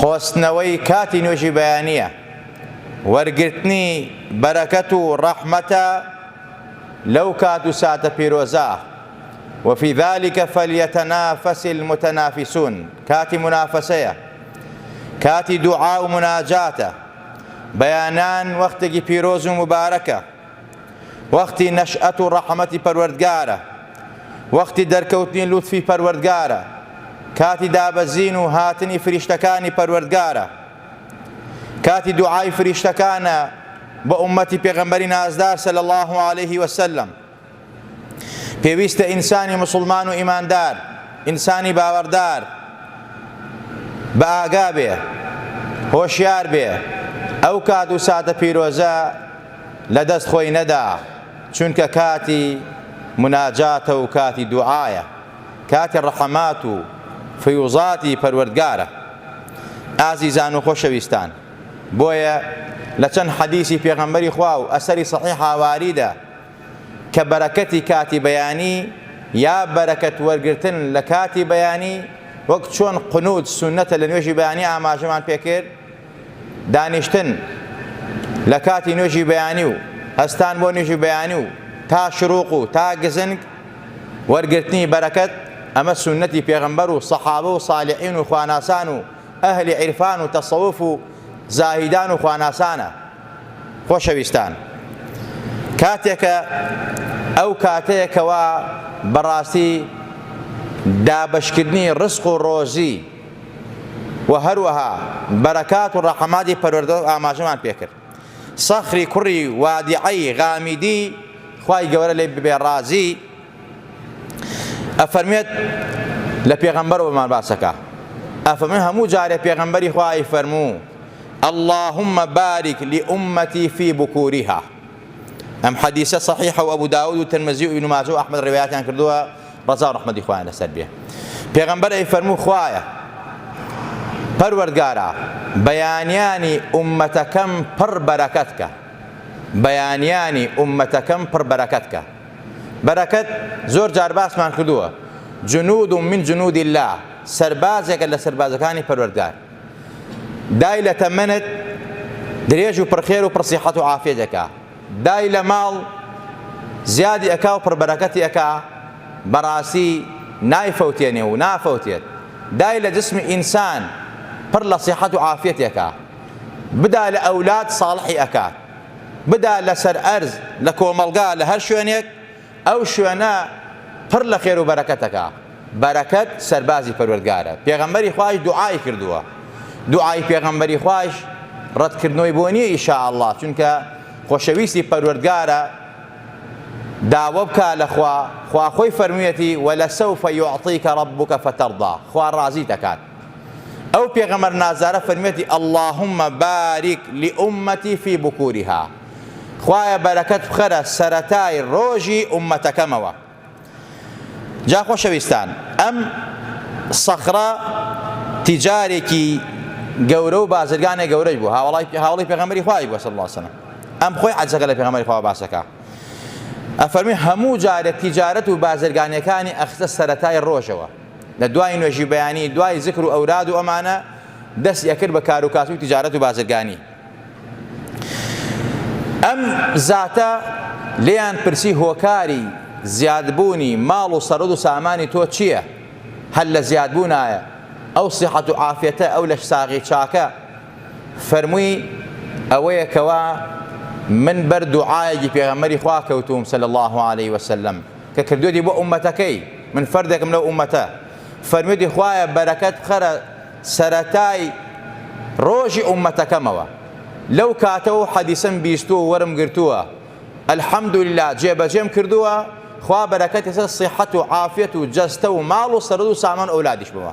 قۆستنەوەی کاتی نوێژی بەیانییە، وەرگرتنی بەرەکەت و ڕەحمەتە لەو کات و ساتە پیرۆزە، وفی ذلک فلیتنافس المتنافسون، کاتی مونافەسەیە، کاتی دوعا و موناجاتە، بەیانان وەختێکی پیرۆز و موبارەکە، وەختی نەشئەت و ڕەحمەتی پەروەردگارە، وەختی دەرکەوتنی لوتفی پەروەردگارە، کاتی دابەزین و هاتنی فریشتەکانی پەروەردگارە، کاتی دوعای فریشتەکانە بۆ ئوممەتی پێغەمبەری نازدار صلی اللە علیه وسلم. پێویستە ئینسانی موسڵمان و ئیماندار، ئینسانی باوەڕدار بە ئاگا بێ، هۆشیار بێ، ئەو کات و ساتە پیرۆزە لە دەست خۆی نەدا، چونکە کاتی موناجاتە و کاتی دوعایە، کاتی ڕەحمات و فیوزاتی پەروەردگارە. ئازیزان و خۆشەویستان، بۆیە لە چەند حەدیسی پێغەمبەری خوا و ئەسەری سەحیح هاواریدە، کە بەرەکەتی کاتی بەیانی یا بەرەکەت وەرگرتن لە کاتی بەیانی وەک چۆن قنوت سونەتە لە نوێژی بەیانی ئاماژەمان پێ کرد دانیشتن لە کاتی نوێژی بەیانی و هەستان بۆ نوێژی بەیانی و تا شروق و تا گزنگ وەرگرتنی بەرەکەت ئەمە سونەتی پێغمبەر و سەحابە و صالحین و خواناسان و ئەهلی عیرفان و تەسەوف و زاهیدان و خواناسانە خۆشەویستان کاتێکە ئەو کاتەیە کەوا بەڕاستی دابەشکردنی ڕزق و ڕۆزی و هەروەها بەرەکات و ڕەحماتی پەروەردگار ئاماژەمان پێکرد سەخری کوڕی وادیعەی غامیدی خوای گەورە لێ ببێ ڕازی ئەفەرمێت لە پێغەمبەرەوەمان باسەکە ئەفەرمێ هەموو جارێ پێغەمبەری خوا ئەیفەرموو اللهم بارک لامتی فی بکورها ئەم حەدیسە صحیحە و ابو داود و ترمزی و ابن ماجه و احمد روایتان کردووە رضا و رحمتی خوایان لەسەر بێ پێغەمبەر ئەی فەرموو خوایە پەروەردگارا بەیانیانی ئومەتەکەم پڕ بەرەکەت کە بەیانیانی ئومەتەکەم پڕ بەرەکەت کە بەرەکەت زۆر جار باسمان کردووە جنود من جنود الله سەربازێکە لە سەربازەکانی پەروەردگار دای لە تەمەنت درێژ و پڕخێر و پڕسیحەت و عافیەت ئەکا دای لە ماڵ زیادی ئەکا و پڕبەرەکەتی ئەکا بەڕاستی نایفەوتێنێ و نافەوتێت دای لە جسمی ئینسان پڕ لە سیحەت و عافیەت ئەکا بدا لە ئەولاد ساڵحی ئەکات بدا لەسەر ئەرز لە کۆمەڵگا لە هەر شوێنێک ئەو شوێنە پڕ لە خێرو بەرەکەتەکە، بەرەکەت سەربازی پەروەردگارە، پێغەمبەری خوایش دوعای کردووە، دوعای پێغەمبەری خوایش ڕەتکردنەوەی بۆ نییە ئیشاءاللە، چونکە خۆشەویستی پەروەردگارە، داوا بکە لە خوا، خوا خۆی فەرموویەتی، ولسوف یعطیک ربک فترضی، خوا ڕازیت ئەکات. ئەو پێغەمبەر نازارە فەرمیەتی، اللهم بارک لامتی فی بکورها، خوایە بەرەکەت بخەرە سەرەتای ڕۆژی ئوممەتەکەمەوە. جا خۆشەویستان ئەم سەخرە تیجارێکی گەورە و بازرگانێک گەورەش بوو هاوڵای هاوڵی پێغەمبەری خوای بووە صلی الله علیه وسلم ئەم خۆی عەجەکە لە پێغەمبەری خوا باسەکە ئەفەرمی هەموو جارێک تیجارەت و بازرگانەکانی ئەخستە سەرەتای ڕۆژەوە لە دوای نوێژی بەیانی دوای زکر و ئەوراد و ئەمانە دەستی ئەکرد بە کار و کاسبی تجارەت و بازرگانی ئەم زاتە لێیان پرسی هۆکاری زیادبوونی ماڵ و سەرۆد و سامانی تۆ چییە هەر لە زیادبوونایە ئەو سیحەت و عافەتە ئەو لەش ساغی چاکە فەرمووی ئەوەیە کەوا من بەر دوعاەکی پێغەمەری خوا کەوتوم سەل الله عليه وسلم کە کردویەتی بۆ ئوممەتەکەی من فەردێکم لەو ئوممەتە فەرمویەتی خوایە بەرەکەت بخەرە سەرەتای ڕۆژی ئوممەتەکەمەوە لەو کاتە و حەدیسم بیستوە و وەرم گرتووە الحمدللە جێ بەجێم کردووە خوا بەرەکەتی سەر سیحەت و عافیەت و جەستە و ماڵ و سەرەت و سامان و ئەولادیشمەوە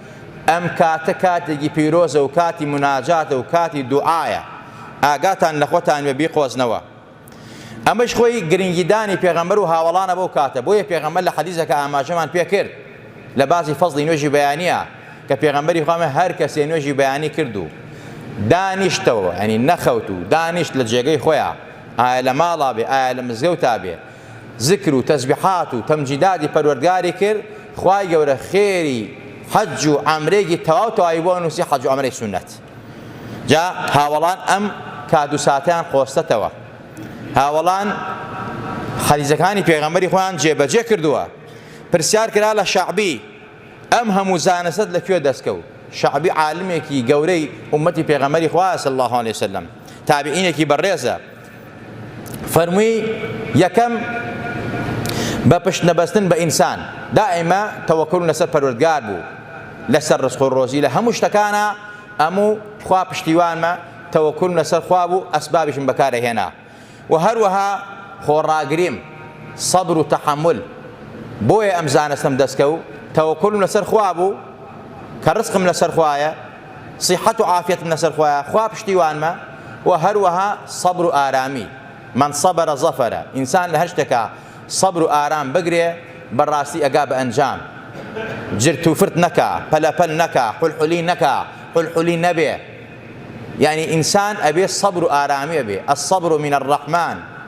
ئەم کاتە کاتێکی پیرۆزە و کاتی موناجاتە و کاتی دوعایە، ئاگاتان لە خۆتان بێ بیقۆزنەوە. ئەمەیش خۆی گرنگیدانی پێغەمبەر و هاوەڵانە بەو کاتە، بۆیە پێغەمبەر لە حەدیسەکە ئاماژەمان پێ کرد لە باسی فەزڵی نوێژی بەیانییە کە پێغەمبەری خوا فەرمووی، هەر کەسێ نوێژی بەیانی کرد و دانیشتەوە، یانی نەخەوت و دانیشت لە جێگەی خۆیا، ئایا لە ماڵا بێ، ئایا لە مزگەوتا بێ، زکر و تەسبیحات و تەمجیدادی پەروەردگاری کرد، خوای گەورە خێری حەج و عەمرەیەکی تەواو تەواوی بۆ نووسی حەج و عەمرەی سوننەت. جا هاوەڵان ئەم کات و ساتەیان قۆستەتەوە. هاوەڵان حەدیسەکانی پێغەمبەری خۆیان جێبەجێ کردووە. پرسیار کرا لە شەعبی، ئەم هەموو زانستەت لە کوێ دەست کەوت؟ شەعبی عالمێکی گەورەی ئوممەتی پێغەمبەری خوایە صلی اللە علیە وسلم، تابعینێکی بەڕێزە. فەرمووی، یەکەم، بە پشت نەبەستن بە ئینسان، دائیمە تەوەکوولم لەسەر پەروەردگار بوو، لەسەر ڕزق و ڕۆزی لە هەموو شتەکانا ئەموو خوا پشتیوانمە، تەوەکوولم لەسەر خوا بوو، ئەسبابیشم بەکار ئەهێنا و هەروەها خۆڕاگریم، سەبر و تەحەمول، بۆیە ئەم زانستەم دەستکەوت، تەوەکوولم لەسەر خوا بوو، کە ڕزقم لەسەر خوایە، سیحەت و عافیەتم لەسەر خوایە خوا پشتیوانمە و هەروەها سەبر و ئارامی من صبر ظفر ئینسان لە هەر شتێکا سەبر و ئارام بگرێ بەڕاستی ئەگا بە ئەنجام جرت و فرت نەکا پەلەپەل نەکا حلحلی نەکا حلحلی نەبێ یعنی ئینسان ئەبێ سەبر و ئارامی ئەبێ الصبر من الرحمن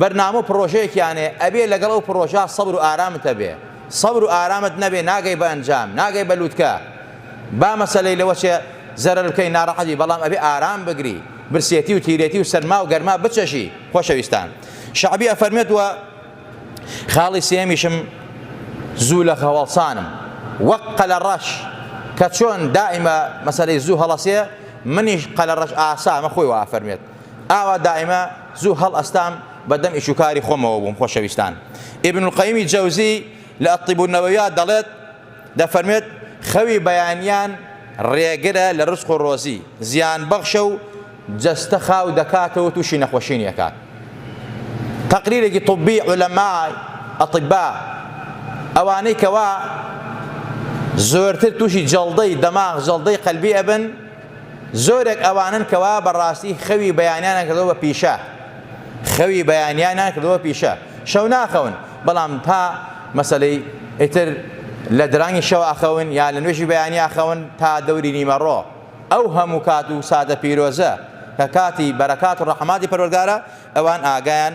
بەرنامە و پڕۆژەیەکیان هەیە ئەبێ لەگەڵ ئەو پڕۆژە سەبر و ئارامت هەبێ سەبر و ئارامت نەبێ ناگەی بە ئەنجام ناگەی بە لوتکە با مەسەلەی لەوە چێ زەرەر بکەی ناڕەحەت بی بەڵام ئەبێ ئارام بگری برسێتی و تیرێتی و سەرما و گەرما بچەژی خۆشەویستان شەعبی ئەفەرمێت و خاڵی سێمیشم زوو لە هەواڵسانم وەک قەلە ڕەش کە چۆن دائیمە مەسەلەی زوو هەڵەسێ منیش قەلە ڕەش ئاسا مە خۆی وافەرمێت ئاوا دایمە زوو هەڵئەستام بە دەم ئیش و کاری خۆمەوە بووم خۆشەویستان ئیبن القەیمی جەوزی لە الطب النوویە دەڵێت دەفەرمێت خەوی بەیانیان ڕێگرە لە ڕزق و ڕۆزی زیان بەخشە و جەستە خاو دەکاتەوە تووشی نەخۆشی نیەکات تەقریرێکی طبی علەما ئەطبا ئەوانەی کەوا زۆرتر تووشی جەڵدەی دەماغ جەڵدەی قەلبی ئەبن زۆرێک ئەوانەن کەوا بە ڕاستی خەوی بەیانیانیان کردووە بە پیشە، خەوی بەیانیانیان کردووە پیشە، شەو ناخەون، بەڵام تا مەسەلەی ئیتر لە درەنگی شەو ئەخەون یا لە نوێژی بەیانی ئەخەون تا دەوری نیمەڕۆ، ئەو هەموو کات و ساتە پیرۆزە کە کاتی بەرەکات و ڕەحماتی پەروەردگارە، ئەوان ئاگایان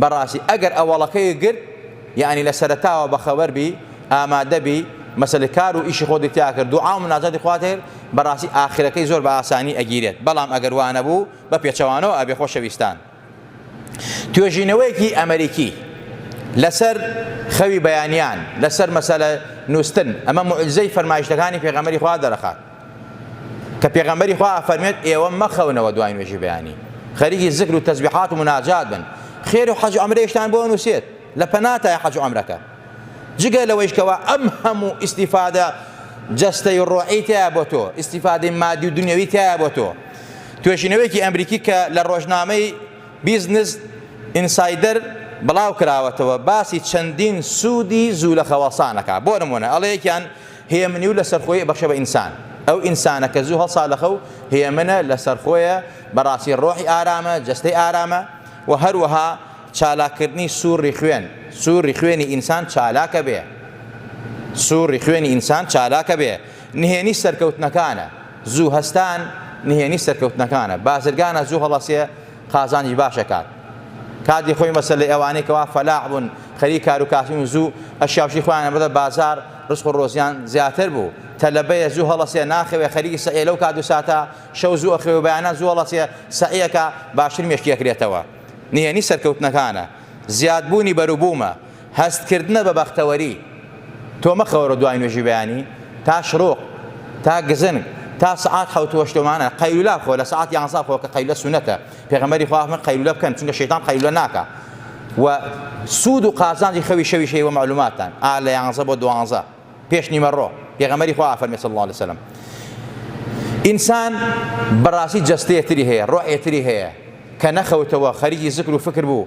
بەڕاستی ئەگەر ئەوەڵەکەی گرت یەعنی لە سەرەتاوە بەخەبەر بی ئامادە بی مەسەلە کار و ئیشی خۆتی تیا کرد دوعا و مناجاتی خوات کرد بەڕاستی ئاخرەکەی زۆر بە ئاسانی ئەگیرێت بەڵام ئەگەر وا نەبوو بە پێچەوانەوە ئەبێ خۆشەویستان توێژینەوەیەکی ئەمەریکی لەسەر خەوی بەیانیان لەسەر مەسەلە نووستن ئەمە معجزەی فەرمایشتەکانی پێغەمبەری خوا دەرەخات کە پێغەمبەری خوا ئەفەرمێت ئێوە مەخەونەوە دوای نوێژی بەیانی خەریکی زکر و تەزبیحات و مناجات بن خێر و حەج و عەمرەیشتان بۆ نووسێت لە پەناتای حەج و عەمرەکە جگە لەوەیش کەوا ئەم هەموو ئیسیفادە جەستەی و ڕۆعی تیا بۆ تۆ ئیسیفادەی مادی و دنیاوی تیا بۆ تۆ توێژینەوەیەکی ئەمریکی کە لە ڕۆژنامەی بیزنس ئینسایدەر بڵاو کراوەتەوە باسی چەندین سوودی زوو لە خەوەسانەکە بۆ نمونە ئەڵەیەکیان هێمنی و لەسەرخۆی ئەبەخشێ بە ئینسان. ئەو ئینسانە کە زوو هەڵسالەخە و هێمنە، لەسەرخۆیە، بەڕاستی ڕۆحی ئارامە، جەستەی ئارامە و هەروەها چالاککردنی سووڕی خوێن، سووڕی خوێنی ئینسان چالاکە بێ، سووڕی خوێنی ئینسان چالاکە بێ، نهێنی سەرکەوتنەکانە، زوو هەستان نهێنی سەرکەوتنەکانە، بازرگانە زوو هەڵەسێ، قازانج باش ئەکات کاتی خۆی مەسەلەی ئەوانەی کەوا فەلاح بوون خەری کار و کاسبین و زوو ئەشیاوشی خۆیان ئەبردە بازار رزق و رۆزیان زیاتر بوو تەلەبەیە زوو هەڵەسێ ناخەوێ خەریکی سەعیە لەو کات و ساتە شەو زوو ئەخەوێ و بەیانان زوو هەڵەسێ سەعیەکە باشتر مێشکی ئەکرێتەوە نهێنی سەرکەوتنەکانە زیادبوونی بەروبوومە هەست کردنە بە بەختەوەری. تۆ مەخەوەرە دوای نوێژی بەیانی تا شڕوق تا گزنگ تا سەعات حەوت وەشتومانە قەیلولە بخۆ لە سەعات یانزە بخۆ کە قەیلولە سونەتە پێغەمبەری خوا فەرمووی قەیلولە بکەن چونکە شەیتان قەیلولە ناکا و سوود و قازانجی خەوی شەویش هەیە وە مەعلوماتتان ئا لە یانزە بۆ دوانزە پێش نیمەڕۆ پێغەمبەری خوا ئافەرمی صلی اللە علیە وسلم ئینسان بەڕاستی جەستەیە تری هەیە ڕۆحێ تری هەیە کە نەخەوتەوە خەریکی زکر و فکر بوو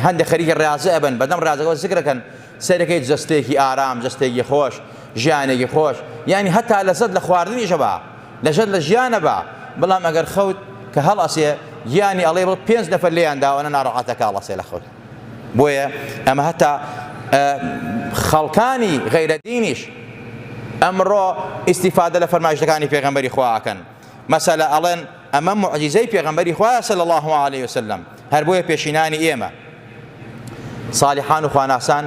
هەندێک خەریکی ڕازە ئەبن بەدەم ڕازەکەەوە زکرەکەن سەرەکەی جستێکی ئارام جستێکی خۆش ژیانێکی خۆش یعنی هەتا لەزت لە خواردنیشە بە لەژت لە ژیانە بە بەڵام ئەگەر خەوت کە هەڵ ئەسێ گیانی ئەڵێ بڵ پێنج نەفەر لێیان داوانە ناڕەحەتەکە ئەڵەسێ لە خەوت بۆیە ئەمە هەتا خەڵکانی غەیرە دینیش ئەمڕۆ ئیسیفادە لە فەرمایشتەکانی پێغمبەری خواکەن مەسەلە ئەڵێن ئەمە معجززەی پێغمبەری خوایە سەل الله عليه وسلم هەر بۆیە پێشینانی ئێمە صالحان و خواناسان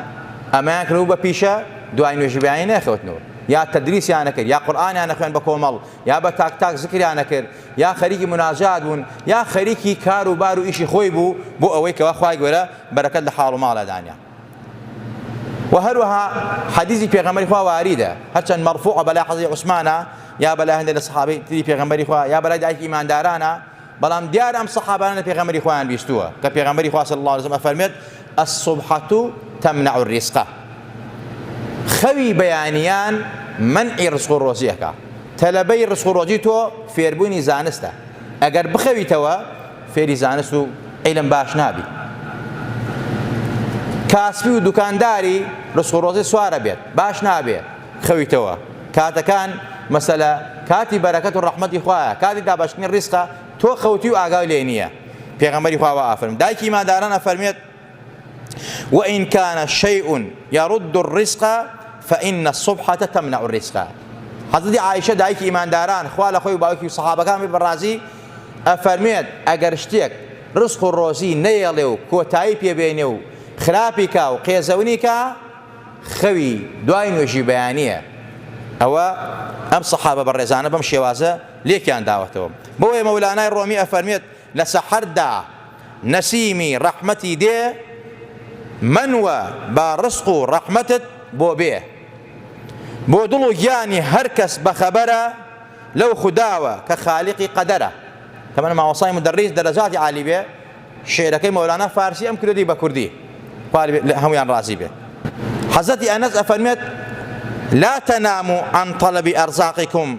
ئەمەیان کرد و بە پیشە دوای نوێژبیانی نەخەوتنەوە یا تەدریسیانە کرد یا قورآانیانە خوێن بە کۆمەڵ یا بە تاک تاک زکریانە کرد یان خەریکی مناجات بوون یان خەریکی کار و بار و ئیشی خۆی بوو بۆ ئەوەی کەوا خوای گەورە بەرەکەت لە حاڵ و ماڵا دانێ و هەروەها حەدیثی پێغەمبەری خوا واریدە هەرچەند مەرفوع بەلا حەزی عوسمانە یا بەلا هەندێک لە صحابەی تری پێغەمبەری خوا یا بەلای دایکی ئیماندارانە بەڵام دیار ئەم صحابانە پێغەمبەری خۆیان بیستووە کە پێغەمبەری خوا صلی الله علیه و سلم فەرمێت الصبحە تمنع الرزقە، خەوی بەیانیان مەنعی ڕزق و ڕۆزی ئەکا، تەلەبەی ڕزق و ڕۆزی تۆ فێربوونی زانستە، ئەگەر بخەویتەوە فێری زانست و عیلم باش نابی، کاسبی و دوکانداری ڕزق و ڕۆزی سوار ئەبێت باش نابێ خەویتەوە، کاتەکان مەسەلە کاتی بەرەکەت و ڕەحمەتی خوایە، کاتی دابەشکردنی ڕیزقە تۆ خەوتوی و ئاگای لێ نییە. پێغەمبەری خوا وا ئافەرمووی دایکی ئیمانداران ئەفەرمێت وإن كان شيء يرد الرزق فإن الصبحة تمنع الرزق حضرت عائشة دایکی ئیمانداران خوا لە خۆی باوکی و سەحابەکان بەڕازی ئەفەرمێت ئەگەر شتێک ڕزق و ڕۆزی نەیەڵێ و کۆتایی پێبێنێ و خراپیکا و قێزەونیکە خەوی دوای نوێژی بەیانە ئەوە ئەم سەحابە بە ڕێزانە بەم شێوازە لێکیان داوەتەوە. بۆیە مەولانای ڕۆمی ئەفەرموێت، لە سەحەردا نەسیمی ڕەحمەتی دێ، مەنوە با ڕزق و ڕەحمەتت بۆ بێ. بۆ دڵ و گیانی هەر کەس بە خەبەرە لەو خوداوە کە خالیقی قەدەرە. تەمەن مامۆستای مودەڕیس دەرەجاتی عالی بێ شیعرەکەی مەولانا فارسی ئەم کردی بە کوردی خوا لە هەموویان ڕازی بێت. حەزرەتی ئەنەس ئەفەرموێت، لا تنامو عن طلب ارزاقکم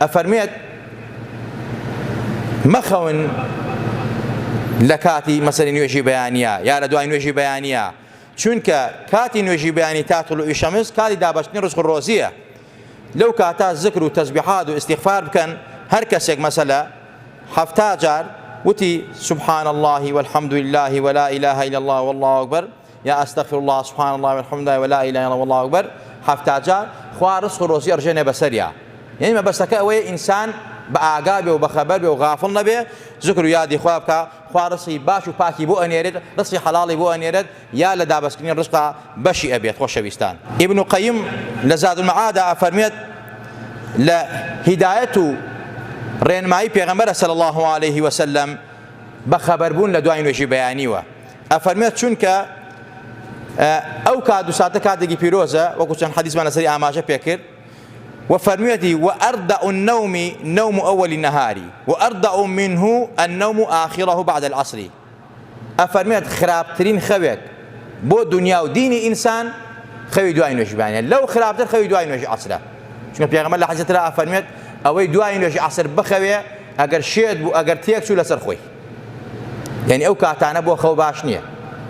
ئەفەرمێت، مەخەون لە کاتی مەسەری نوێژی بەیانیە یا لە دوای نوێژی بەیانیە، چونکە کاتی نوێژی بەیانی تا طلوعی شەمس کاتی دابەشتنی ڕزق و ڕۆزیە، لەو کاتە زکر و تەزبیحات و ئیستیغفار بکەن، هەر کەسێک مەسەلە حەفتا جار وتی، سبحان اللە والحمد للە ولا الە الا اللە واللە اکبر، یا استغفراللە سبحان اللە و الحمد اللە و لا اله الا اللە و اللە اکبر حەفتا جار خوا رزق و رۆزی ئەڕژێنێ بەسەریا یەنی مەبەستەکە ئەوەیە ئینسان بە ئاگا بێ و بە خەبەر بێ و غافڵ نەبێ زکر و یادی خوا بکە خوا ڕسی باش و پاکی بۆ ئەنێرێت ڕسی حەڵاڵی بۆ ئەنێرێت یا لە دابەستکردنی ڕزقا بەشی ئەبێت خۆشەویستان ئیبن و قەیم لە زاد المعادا ئەفەرمێت لە هیدایەت و ڕێنمایی پێغەمبەر صلی الله عليه وسلم بە خەبەربوون لە دوای نوێژی بەیانیوە ئەفەرمێت، چونکە ئەو کات و ساتە کاتێکی پیرۆزە، وەکو چەند حەدیسمان لەسەری ئاماژە پێکرد، وە فەرموویەتی، وأردع النوم نوم اول النهار وأردع منه النوم آخره بعد العصر، ئەفەرمێت، خراپترین خەوێک بۆ دونیا و دینی ئینسان خەوی دوای نوێژی بەیانە، لەو خراپتر خەوی دوای نوێژی عەسرە، چونکە پێغەمبەر لە حەدیسێکی ترا ئەفەرموێت، ئەوەی دوای نوێژی عەسر بخەوێ، ئەگەر شێت بوو، ئەگەر تێک چوو لەسەر خۆی. یەنی ئەو کاتانە بۆ خەو باش نییە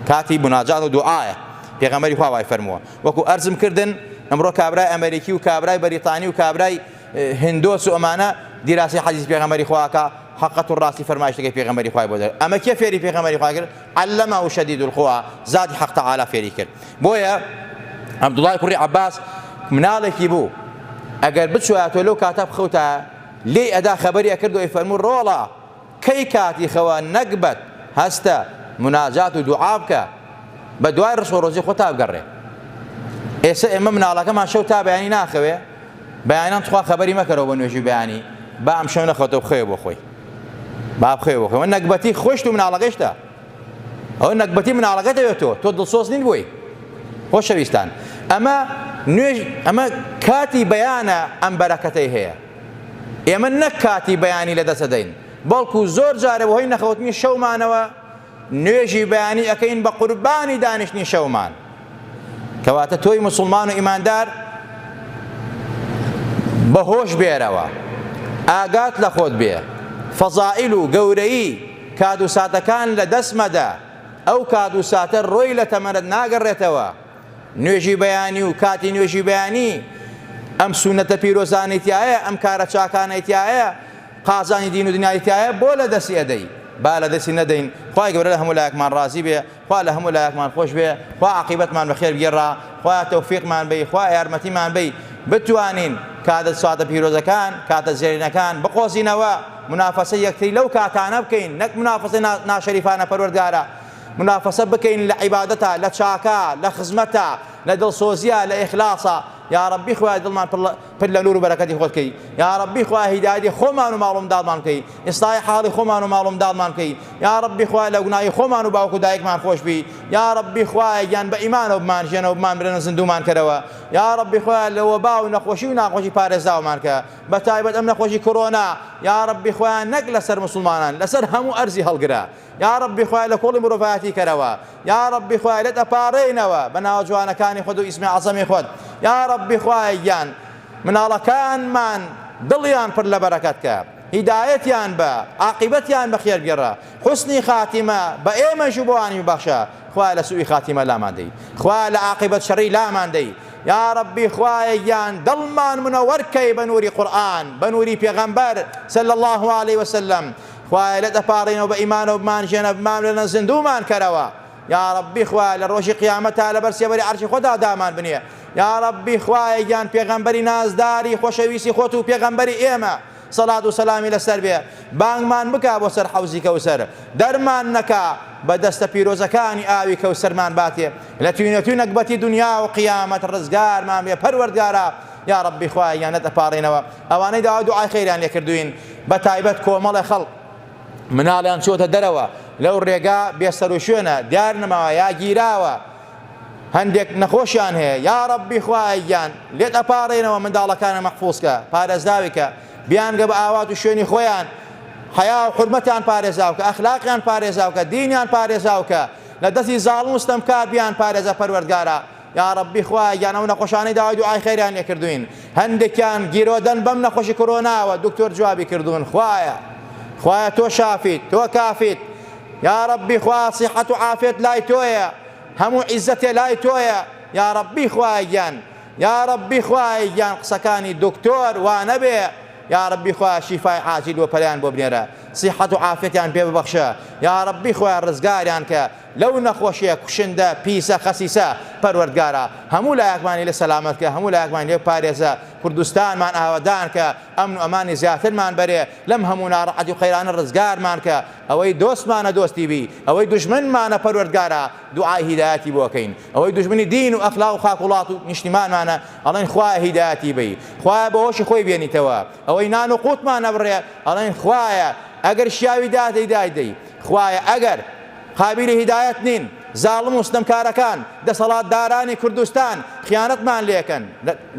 کاتی بناجات و دوعاە پێغەمەری خوا وای فەرمووە وەکو ئەرزم کردن ئەمڕۆ کابرای ئەمریکی و کابرای بەریتانی و کابرای هندۆس و ئەمانە دیراسی حەدیث پێغەمەری خواکە حقت و ڕاستی فەرمایشتەکەی پێغەمەری خوای بۆ دەر ئەمە کێ فێری پێغەمەری خواگر علەما و شەدید القوا زادی حق تعالی فێری کرد بۆیە عبدوڵای کوڕی عباس مناڵێکی بوو ئەگەر بچواتۆ لەو کاتە بخەوتە لێ ئەدا خەبەری ئەکردەوەی فەرموو ڕۆڵە کەی کاتی خەوە نەگبەت هەستە مناجات و دوعا بکە بەدوای ڕسق و ڕۆزی خۆتا بگەڕێ ئێسە ئێمە مناڵەکەمان شەو تا بەیانی ناخەوێ بەیانان تخوا خەبەری مەکەرەوە بە نوێژی بەیانی با ئەم شەو نەخەوتە بخەوێ بۆ خۆی با بخەوێ بۆ خۆی نەگبەتی خۆشت و مناڵەکەشتە ئەو نەگبەتی مناڵەکە دەوێت تۆ تۆ دڵسۆز نین بۆی خۆشەویستان ئەمە نوێژ ئەمە کاتی بەیانە ئەم بەرەکەتەی هەیە ئێمە نەک کاتی بەیانی لەدەست دەدەین، بەڵکو زۆر جارێ بەهۆی نەخەوتنی شەومانەوە نوێژی بەیانی ئەکەین بە قوربانی دانیشتنی شەومان. کەواتە تۆی موسڵمان و ئیماندار بە هۆش بێرەوە ئاگات لە خۆت بێ فەزائیل و گەورەیی کات و ساتەکان لە دەست مەدە ئەو کات و ساتە ڕۆی لە تەمەنت ناگەڕێتەوە نوێژی بەیانی و کاتی نوێژی بەیانی ئەم سونەتە پیرۆزانەی تایە ئەم کارە چاکانەی تایە قازانی دین و دنیای تایە بۆ لە دەستی ئەدەی با لە دەستی نەدەین خوای گەورە لە هەموو لایەکمان ڕازی بێ خوا لە هەموو لایەکمان خۆش بێ خوا عاقیبەتمان بەخێر بگێڕا خوا تەوفیقمان بی خوا یارمەتیمان بی بتوانین کاتە ساتە پیرۆزەکان کاتە زێرینەکان بقۆزینەوە منافەسە یەکتری لەو کاتانە بکەین نەک منافەسە ناشەریفانە پەروەردگارە منافەسە بکەین لە عیبادەتا لە چاکا لە خزمەتا لە دڵسۆزیا لە ئیخلاسا یاڕەبی خوایە دڵمان پر لە نور و بەرەکەتی خۆت کەی یاڕەبی خوایە هیدایەتی خۆمان و ماڵ و منداڵمان بکەی ئیسلاحی حاڵی خۆمان و ماڵ و منداڵمان بکەی یاڕەبی خوایە لە گوناهی خۆمان و باوک و دایکمان خۆش بی یاڕەبی خوایە گیان بە ئیمانەوە بمانژێنەوە بمانبرێنە زیندوومان کەرەوە یاڕەبی خوایە لە وەبا و نەخۆشی و ناخۆشی پارێزاومان کە بە تایبەت ئەم نەخۆشی کۆرۆنا یاڕەبی خوایە نەک لەسەر موسڵمانان لەسەر هەموو ئەرزی هەڵگرە یاڕەبی خوایە لە کۆڵی مرۆڤایەتی کەرەوە یاڕەبی خوایە لێت ئەپاڕێینەوە بە ناوە جوانەکانی خۆت و ئیسمی عەزەمی خۆت یاڕەبی خوایە گیان مناڵەکانمان دڵیان پر لە بەرەکەت کە هیدایەتیان بە عاقیبەتیان بە خێر گێڕە حسنی خاتیمە بە ئێمەش و بۆانی ببەخشە خوا لە سوئی خاتیمە لامان دەی خوا لە عاقیبەت شەڕی لامان دەی یا ربی خوایە گیان دڵمان منەوەرکەی بە نووری قورآن بە نووری پێغەمبەر صلی الله علیه وسلم خوایە لێت ئەپاڕێینەوە بە ئیمانەوە بمانژێنە بمانوێنە زیندوومان کەرەوە یاڕەبی خوایە لە ڕۆژی قیامەتا لەبەر سێبەری عەرشی خۆتا دامان بنێ یاڕەبی خوایە گیان پێغەمبەری نازداری خۆشەویستی خۆت و پێغەمبەری ئێمە سەڵات و سەلامی لەسەر بێ بانگمان بکا بۆ سەر حەوزی کەوسەر دەرمان نەکا بە دەستە پیرۆزەکانی ئاوی کەوسەرمان باتێ لە توینەتوی نەگبەتی دنیا و قیامەت ڕزگارمان بێ پەروەردگارا یا ڕەبی خوایە یانەت ئەپاڕێنەوە ئەوانەی داوای دوعای خێریان لێ کردووین بە تایبەت کۆمەڵێ خەڵک مناڵیان چۆتە دەرەوە لەو رێگا بێ سەروشوێنە دیار نەماوە یا گیراوە هەندێک نەخۆشیان هەیە یا رەبی خوایە گیان لێت ئەپارێنەوە منداڵەکانە مەحفوظکە پارێزراویکە بیانگە بە ئاوات و شوێنی خۆیان حیا و حرمەتیان پارێزاوکە ئەخلاقیان پارێزاوکە دینیان پارێزاوکە لە دەستی زاڵم و ستەمکار بیان پارێزە پەروەردگارە یاڕەبی خوایە گیان ئەو نەخۆشانەی داوای دوعای خێریان لێ کردوین هەندێکیان گیرۆدەن بەم نەخۆشی کۆرۆناوە دکتۆر جوابی کردون خوایە خوایە تۆ شافیت تۆ کافیت یاڕەبی خوا سیحەت و عافێت لای تۆیە هەموو عیزەتێ لای تۆیە یاڕەبی خوایە گیان یاڕەبی خوایە گیان قسەکانی دکتۆر وانەبێ یاڕەبی خوایە شیفای عاجل و پەلیان بۆ بنێرە سیحەت و عافێتیان پێ ببەخشە یاڕەبی خوایە ڕزگاریان کە لەو نەخۆشیە کوشندە پیسە خەسیسە پەروەردگارا هەموو لایەکمانی لێ سەلامەت کە هەموو لایەکمانی لێ بپارێزە کوردستانمان ئاوەدان کە ئەمن و ئەمانی زیاترمان بەرێ لەم هەموو ناڕەحەتی و قەیرانە ڕزگارمان کە ئەوەی دۆستمانە دۆستی بی ئەوەی دوژمنمانە پەروەردگارا دوعای هیدایەتی بۆ کەین ئەوەی دوژمنی دین و ئەخلاق و خاک وڵات و نیشتیمانمانە ئەڵێن خوایە هیدایەتی بی خوایە بۆ هۆشی خۆی بێنیتەوە ئەوەی نان و قوتمان نەبڕێ ئەڵێن خوایە ئەگەر شیاوی دادەی دایدەی خوایە ئەگەر قابیلی هیدایەت نین زاڵم و ستەمکارەکان دەسەڵاتدارانی کوردستان خیانەتمان لێکەن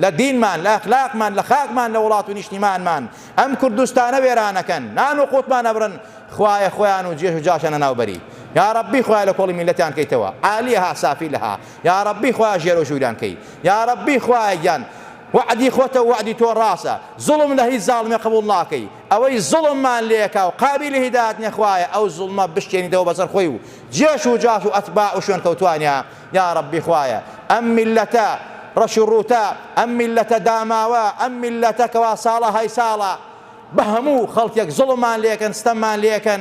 لە دینمان لە ئەخلاقمان لە خاکمان لە وڵات و نیشتیمانمان ئەم کوردستانە وێرانەکەن نان و قوتمان ئەبرن خوایە خۆیان و جێژ و جاشیان لەناو بەری یا ربی خوایە لە کۆڵی میلەتیان کەیتەوە عالیها سافیلها یا ربی خوایە ژێر و ژووریان کەی یا ربی خوایە گیان وعدی خۆتە وعدی تۆ ڕاسە زوڵم لە هیچ زاڵمێ قبوڵ ناکەی ئەوەی زوڵممان لێکا و قابیلی هیدایەت نیە خوایە ئەو زوڵمە بشکێنیتەوە بەسەر خۆی و جێش و جاش و ئەتباع و شوێنکەوتوانیا یاڕەبی خوایە ئەم میللەتە ڕەش و ڕووتە ئەم میللەتە داماوە ئەم میللەتە کەوا ساڵە های ساڵە بە هەموو خەڵکێک زوڵممان لێکەن ستەممان لێکەن